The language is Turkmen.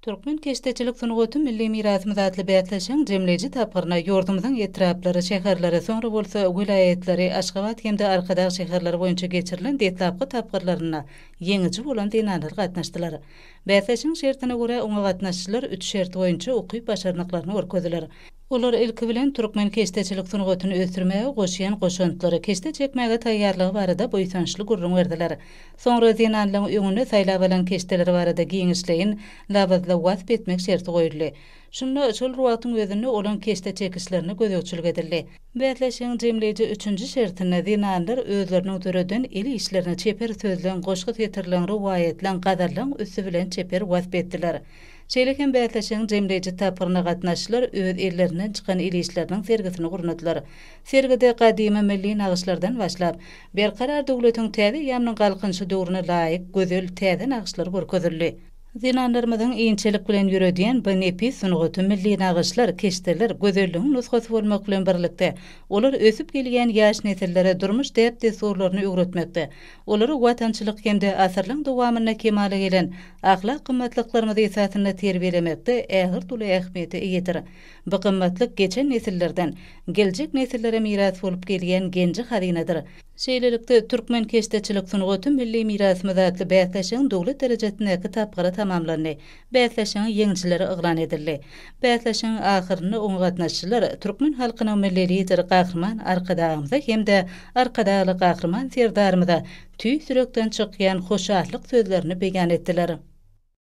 Türkmen keşdeçilik sungaty milli mirasymyz atly bäsleşigiň jemleýji tapgyryna ýurdumyzyň etraplary, şäherleri, soňra bolsa welaýatlary, Aşgabat hem-de Arkadag şäherleri boýunça geçirilen deslapky tapgyrlarynda ýeňiji bolan zenanlar gatnaşdylar. Bäsleşigiň şertine görä, oňa gatnaşyjylar üç şert boýunça ukyp-başarnyklaryny görkezdiler. Olar, ilki bilen, türkmen keşdeçilik sungatyny ösdürmäge goşýan goşantlary, keşde çekmäge taýýarlygy barada buýsançly gürrüň berdiler. Soňra zenanlaryň öňüne saýlap alan keşdeleri barada giňişleýin, labyzly wasp etmek şerti goýuldy. Şunda şol wagtyň özünde olaň keşde çekişlerine gözegçilik edildi. Bäsleşigiň jemleýji üçünji şertinde zenanlar özleriniň döreden el işlerini çeper sözleň, goşgy setirleň, rowaýatlaň, gazallaň üsti bilen çeper wasp etdiler. Şeýle hem bäsleşigiň jemleýji tapgyryna gatnaşyjylar öz ellerinden çykan el işleriniň sergisini gurnadylar. Sergide gadymy milli nagyşlardan başlap, Berkarar döwletiň täze eýýamynyň Galkynyşy döwrüne laýyk gözel täze nagyşlar görkezildi. Zenanlarymyzyň inçelik bilen ýöredýän bu nepis sungaty milli nagyşlar, keşdeler gözelligiň nusgasy bolmak bilen birlikde, olar ösüp gelýän ýaş nesillere durmuş däp-dessurlaryny öwretmekde, olary watançylyk hem-de asyrlaň dowamynda kemala gelen ahlak gymmatlyklarymyz esasynda terbiýelemekde ägirt uly ähmiýete eýedir. Bu gymmatlyk geçen nesillerden geljek nesillere miras bolup gelýän genji-hazynadyr. Şeýlelikde, Türkmen keşdeçilik sungaty milli mirasymyz atly bäsleşigiň döwlet derejesindäki tapgyry tamamlandy. Bäsleşigiň ýeňijileri yglan edildi. Bäsleşigiň ahyrynda oňa gatnaşyjylar türkmen halkynyň Milli Lideri Gahryman Arkadagymyza hem-de Arkadagly Gahryman Serdarymyza tüýs ýürekden çykýan hoşallyk sözlerini beýan etdiler.